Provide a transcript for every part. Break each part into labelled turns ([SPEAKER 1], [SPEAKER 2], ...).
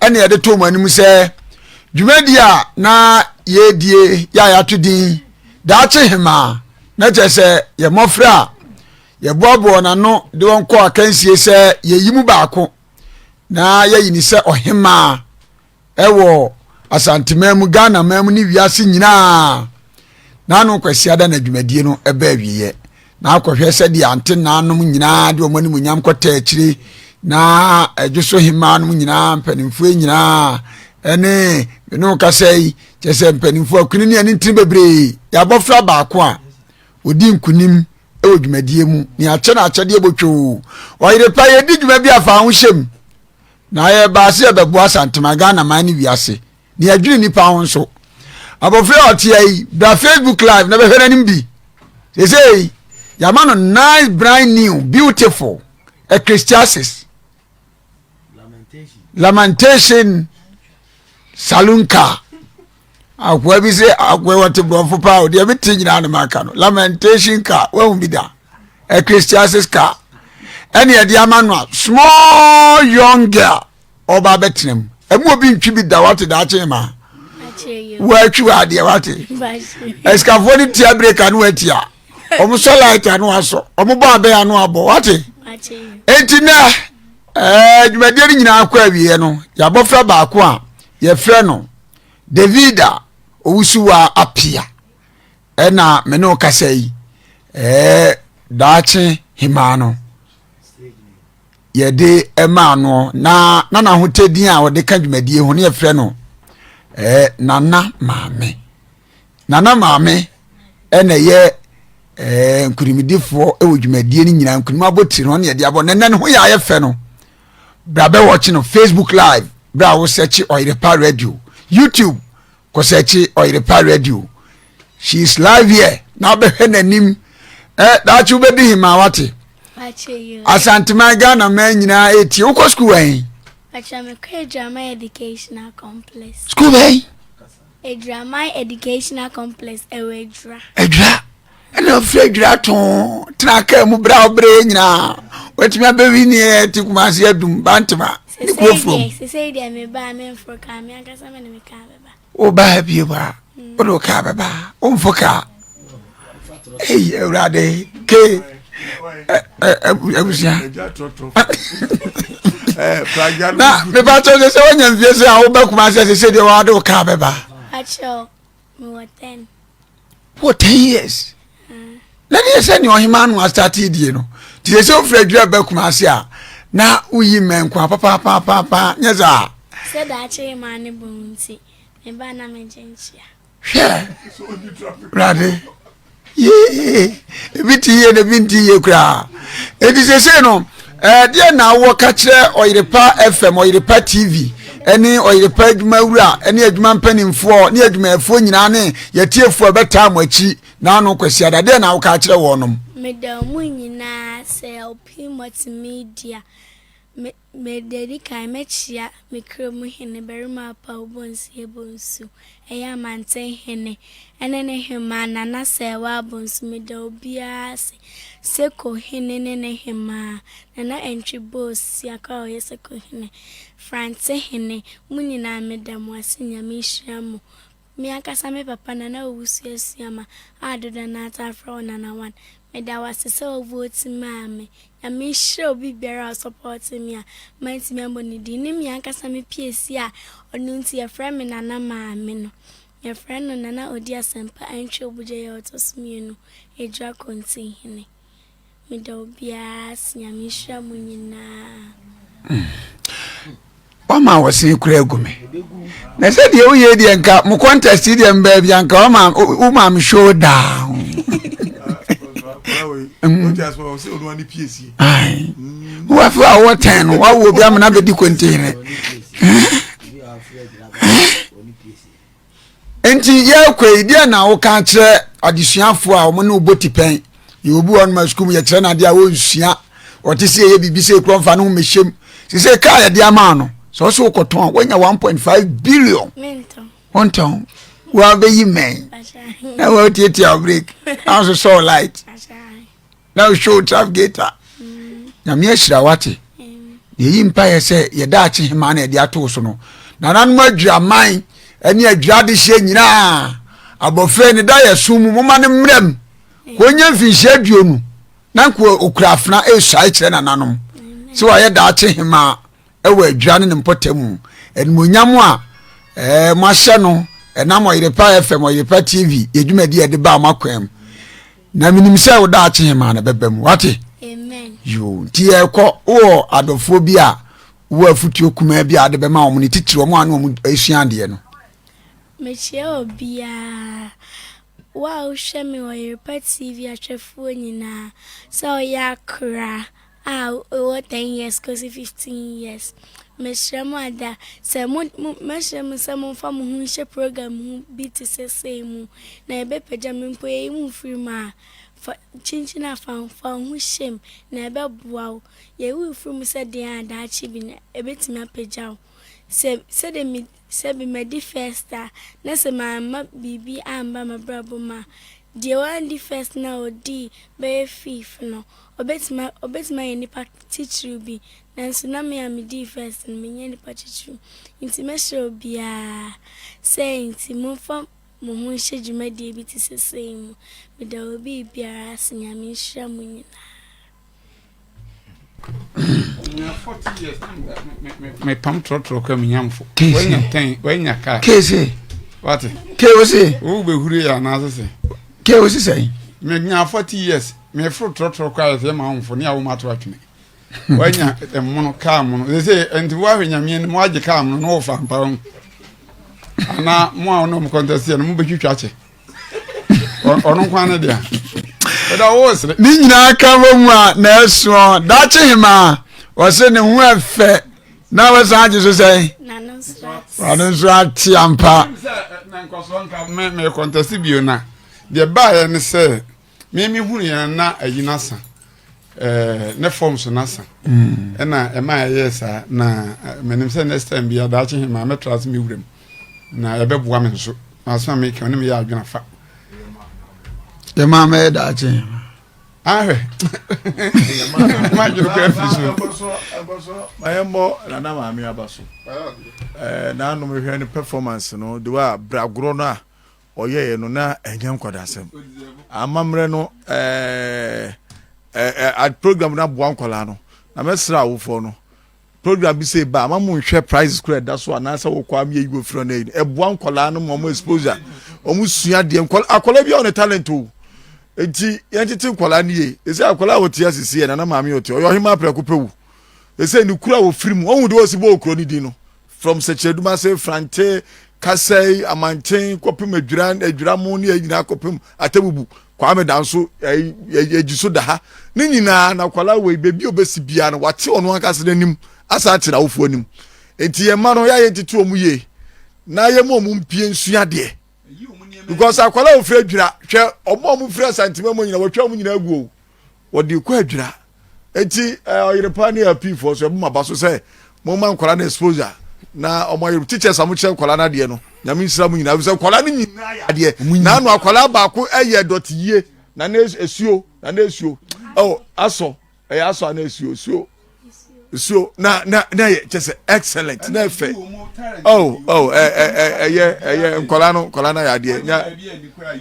[SPEAKER 1] ɛne yɛde to wɔn anim sɛ dwumadi a na yɛredie yɛ a yɛato din daakye hemaa na kyerɛ sɛ yɛ mmɔfra a yɛboaboa wɔn ano de wɔn kɔ akansie sɛ yɛyi mu baako na yɛyi ne sɛ ɔhemaa ɛwɔ asanteman mu ghana man mu ne wiase nyinaa n'ano kwasiada na dwumadie no ɛbɛ awieɛ na akɔhwɛ sɛdeɛ antenaa nom nyinaa de wɔn animonyam kɔtaa akyire na ɛdwo so hemaa nom nyinaa mpanimfoɔ nyinaa ɛne mene wo kasa yi kyɛ sɛ mpanimfoɔ akuni ne ɛne ntini bebree yɛ abɔfra baako a ɔdi nkunim wɔ dwumadie mu ne akyɛ no akyɛdeɛ bɔtwoo ɔyere pa yɛdi dwuma bi afa ahohyɛm na yɛbaa sɛ yɛbɛboa santema ghana man ne wiase ne adwene nipa ho nso abɔfra a ɔteɛ yi bra facebook live na bɛhwɛ n'anim bi sesei yɛama no nice brand new beautiful ecclesiastes lamentation saloon car akoa bi sɛ akoa wɔte borɔfo paa o deɛ mete nyinaa ne maka no lamentation car wahu bi da ecclesiastes car ɛne ɛde ama no a small young girl ɔba abɛtena mu ɛmu obi ntwi bi da wate daakye ma wɔatwi wɔ adeɛ wate asikafoɔ no tia breka no atia wɔn sɔ light ano asɔ wɔn bɔ abɛn ano abɔ wate eti nɛ ɛɛ dwumadie no nyinaa kɔ awieɛ no yɛabɔfra baako a yɛfrɛ no davida owusuwa apia ɛna me ne kasa yi ɛɛ daakye hemaa no. yɛde maa no na na n'ahotadin a ɔde ka dwumadie ho ne yɛfrɛ no eh, nana maame nana maame ɛna ɛyɛ eh, nkurimidifoɔ wɔ dwumadie no nyinaa nkunim abotiri no ɔne yɛde abɔ nana ne ho yɛ ayɛ fɛ no bra bɛwɔkye no facebook live bra wo sɛkye ɔyerepa radio youtube kɔsɛkye ɔyere pa ready o she is live here na wobɛhwɛ n'anim ɛ eh, daakye wobɛdi hemaa wate asanteman ghana man nyinaa ɛtie eh, wokɔ sukuu ɛn sukuu bɛn
[SPEAKER 2] Edraman Educational Complex ɛwɔ Edra. Edra.
[SPEAKER 1] ɛna firi adwira to tena kaa mu berɛ a wobrɛ nyinaa watumi abɛwi ne yɛ te kumase adum bantema ne kuofurom
[SPEAKER 2] wobaa bie mu
[SPEAKER 1] a wode wo kaa bɛba womfo kaa ei awurade ke abusua na mebakyɛ sɛ sɛ woanya mfie sɛ a woba kumase sɛ sɛdeɛ wade wo kaa bɛba
[SPEAKER 2] mewɔ ten
[SPEAKER 1] wɔ ten years na ne yɛ sɛ nea ɔhema no astate die no nti sɛ sɛ wofiri adwiri aba kuma ase a na woyi mmɛnko a papapapapa nyɛ saa sɛ daakye
[SPEAKER 2] ma ne bɔn nti meba na megye nkyia hwɛ
[SPEAKER 1] wurade yee ebi te yie na ebi nte yie koraa eti sese no ɛɛ deɛ na awɔ ka kyerɛ ɔyerepa fm ɔyerepa tv ɛne ɔyerepa adwuma wura ɛne adwuma mpanimfoɔ ne adwumayɛfoɔ nyinaa ne yɛtiefoɔ ɛbɛtaa mo akyi n'ano kwasi ada deɛ na awɔ ka kyerɛ wɔnom. meda mu
[SPEAKER 2] nyinaa sɛ ɔpii multimedia me Mede adi kan mɛkyea me kra mu hene barima apaw bonsu yɛ bonsu, ɛyɛ amanten hene, ɛne ne hemmaa na n'asɛewa abonsu, meda obiara ase, Seko hene ne ne hemmaa, Nana Antwi Bol Siakor a ɔyɛ Seko hene, Frantse hene, mo nyinaa meda mo ase, Nyame nhyira mo. Me ankasa me papa Nana Owusu Asuama a dodoɔ no ara taa frɛ wo Nana One, meda wo ase sɛ wo vote maa me. Nyame nhyira obi biara a ɔ supporte me a mantumi ammɔ ne din ne me ankasa me piesi a ɔno nti yɛfrɛ me Nana Maame no. Yɛfrɛ no Nana Odi Asɛmpa Antwi Obugyayi a ɔtɔ so mmienu, Adwira Kontinhene. Meda obiara ase. Nyame nhyira mo nyinaa.
[SPEAKER 1] wama wɔsene kura agu me na sɛ deɛ woyɛ deɛ nka mo contest deɛ mbaa bi anka woma me show down wowafe a wowɔ tɛn no woawoɔ bi amena bɛdi kontere Enti yɛrekɔ yi, deɛ na woka akyerɛ adesuafoɔ a wɔn ne wobɔ tipɛn? Yɛwɔ obi wɔ hɔnom a sukuu mu yɛkyerɛ no adeɛ a ɔnsua, ɔte sɛ yɛyɛ biribi sɛ ekura mfa ne ho mmɛhyɛ mu. Sɛ sɛ kaa yɛde ama no, sɛ ɔsɛ wokɔtɔn a, woanya 1.5 billion. Wontɔn. Woabɛyi mmɛn na woatiatia wo break na wososɔ wo light. na show traf geta nyame ahyira wate yɛyi mpaeɛ sɛ yɛda akye hema na yɛde atoo so no nananom adwiraman ne adwira adehyeɛ nyinaa abɔfra ne da yɛ so mu moma no mmerɛ m wɔnya mfinhyia aduonu na nka ɔkura afena ɛresuae kyerɛ nananom sɛ wayɛ daakye hema ɛwɔ adwira ne ne mpɔta mu animonyam a ɛɛ moahyɛ no ɛnam ɔyerepa fm ɔyerepa tv yɛdwumadi yɛde baa mo akwam na menim sɛ wo daakye hemaa no bɛba mu wate yo
[SPEAKER 2] nti yɛkɔ
[SPEAKER 1] wowɔ adɔfoɔ bi a wowɔ afotuo kumaa bi a wode bɛma wɔn ne titiri wɔn a ne wɔn asua adeɛ no mekyia
[SPEAKER 2] obiara wo a wohwɛ me wɔ yerepɛ tv ahwɛfoɔ nyinaa sɛ ɔyɛ akora a ɔwɔ ten years kɔsi fifteen years, mesrɛ mo ada sɛ mo, mo, mɛsrɛ mo sɛ momfa mo ho nhyɛ program ho bi te sɛ sei mu, na ɛbɛpagya me mpo, yɛyi mo firi mu a, fa, kyinkyin afa ho, fa wo ho hyɛ mu, na ɛbɛboa wo, yɛyi wo firi mu sɛ deɛn a daakye bi no ɛbɛtumi apagya wo, sɛ, sɛdeɛ me. Sɛ bi madi first a, na sɛ mamma biribi amba m'abrabɔ mu a, deɛ wandi first no a ɔdii bɛyɛ fifth no, ɔbɛtumi a, ɔbɛtumi ayɛ nipa titiriw bi. Nanso na me a medii first no, menyɛ nipa titiriw. Nti mɛsrɛ obiara sɛ nti momfa mo ho nhyɛ dwumadie bi te sɛ sei mu. Meda obi biara ase. Nyame nhyira mo nyinaa.
[SPEAKER 3] mepam trɔtrɔ ka menyamfo wanya tɛn wanya ka kese
[SPEAKER 1] wate
[SPEAKER 3] ke wo se
[SPEAKER 1] wo bɛhure yɛ anaase
[SPEAKER 3] se ke wo se sɛn
[SPEAKER 1] menya 40 years
[SPEAKER 3] meforo trɔtrɔ kɔ ayɛ sɛ ma womfo ne a woma to atwene wanya mmono kaa mono sɛ sɛ ɛnti woahwɛ nyameɛ no moagye kaa mono na wɔfa mpa ho anaa mo a wonom kɔntɛseɛ no mobɛtwitwa kyɛ ɔno nkwa no deɛ ɛda wo sere ne nyinaa ka wɔ
[SPEAKER 1] mu a na ɛsoɔ daakye hemaa wɔse ne ho ɛfɛ na wɔsan agye so sɛn ɔno nso ate ampa
[SPEAKER 3] mekɔntɛse bio no deɛ baeɛ ne sɛ me me hunu yɛn na ayi no asa ɛɛ ne forms no asa mm. ɛna ɛma ɛyɛ saa na menim sɛ next time bi adaakye he maa mɛtra ase me wuram na ɛbɛboa me nso maasoma me kɛ ɔne meyɛ adwena fa
[SPEAKER 1] yɛ maa mɛyɛ daakye he ahwɛ
[SPEAKER 3] madwene kora firi so
[SPEAKER 4] mayɛmmɔ nana maame aba so naanom hwɛ no performance no de wa bragorɔ no a ɔyɛeɛ no na ɛnyɛ nkwadasɛm amammerɛ no ɛɛ program no aboa nkwadaa no na mɛsrɛ awofoɔ no program bi sɛ ɛba ama mo nhwɛ prices kora ɛda so anaasɛ wɔkɔ am yɛyi wɔfiri no ayi no ɛboa nkwadaa no ma ɔmo exposure ɔmo sua deɛ akwadaa bi a ɔne talent o nti yɛntete nkwadaa no yie ɛsɛ akwadaa a wɔte asisi yɛ nana maame ɔte ɔyɛ ɔhema aprɛko pɛ wu ɛsɛ ne kura wɔfiri mu ɔhu de wɔsi bɔ okuro ne din no From Sɛkyerɛdum ase, Frantse, Kasai, Amantsen, kɔpem Adwiran, Adwiramo ne nyinaa kɔpem Atabubu, Kwame da nso yɛgye so da ha. Ne nyinaa na akwadaa wei baabi a ɔbɛsi biara no wate ɔno ankasa n'anim asan ate n'awofoɔ anim. Nti yɛn mma no yɛ a yɛntete wɔn yie na yɛma wɔn mpie nsua adeɛ. Because akwadaa a ɔfiri Adwira hwɛ wɔn a wɔfiri Asantema mu nyinaa wɔatwa wɔn nyinaa agu o. wɔde rekɔ adwira. Enti eh, ɔyerepa ne apiifoɔ so, ɛbɔ mo aba so sɛ momma nkwadaa no exposure na ɔmo ayere teachers a mokyerɛ nkwadaa no adeɛ no nyame nhyira mo nyinaa sɛ nkwadaa no nyinaa yɛ adeɛ na ano akwadaa baako ɛyɛ dɔte yie na na esuo na na esuo ɛwɔ asɔ ɛyɛ asɔ ana esuo esuo esuo na na na yɛ kyɛ sɛ excellent na ɛfɛ ɔw ɔw ɛ ɛ ɛ ɛyɛ ɛyɛ nkɔla no nkɔla no ayɛ adeɛ nya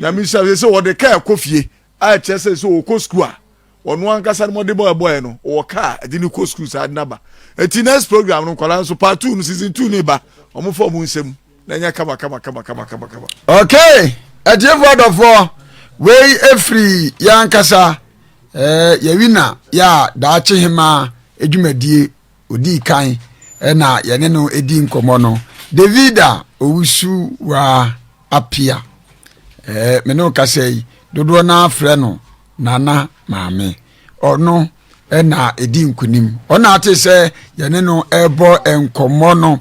[SPEAKER 4] nyame nhyira sɛ wɔde kaa ɛkɔ fie A Ɛkyerɛ sɛ, sɛ ɔkɔ sukuu a, ɔno ankasa ne mmɔdenbɔ a ɛbɔeɛ no, ɔwɔ kaa a ɛde no kɔ sukuu saa de no aba. Enti next program no, nkwadaa nso, part two no, season two no reba, wɔmfa wɔn nsam na ɛnyɛ kamakamakamakama. Ok,
[SPEAKER 1] atiefoɔ adɔfoɔ, wei firi yɛn ankasa, eh, yɛn wina, yɛ a daakye hemaa adwumadie. Odii kan na yɛne no di nkɔmmɔ no, David a owusu wa apia. Ɛɛ me ne ɔkasa yi dodoɔ no afrɛ no nana maame. Ɔno na ɛdi nkunim. Ɔna ate sɛ yɛne no ɛbɔ nkɔmmɔ no.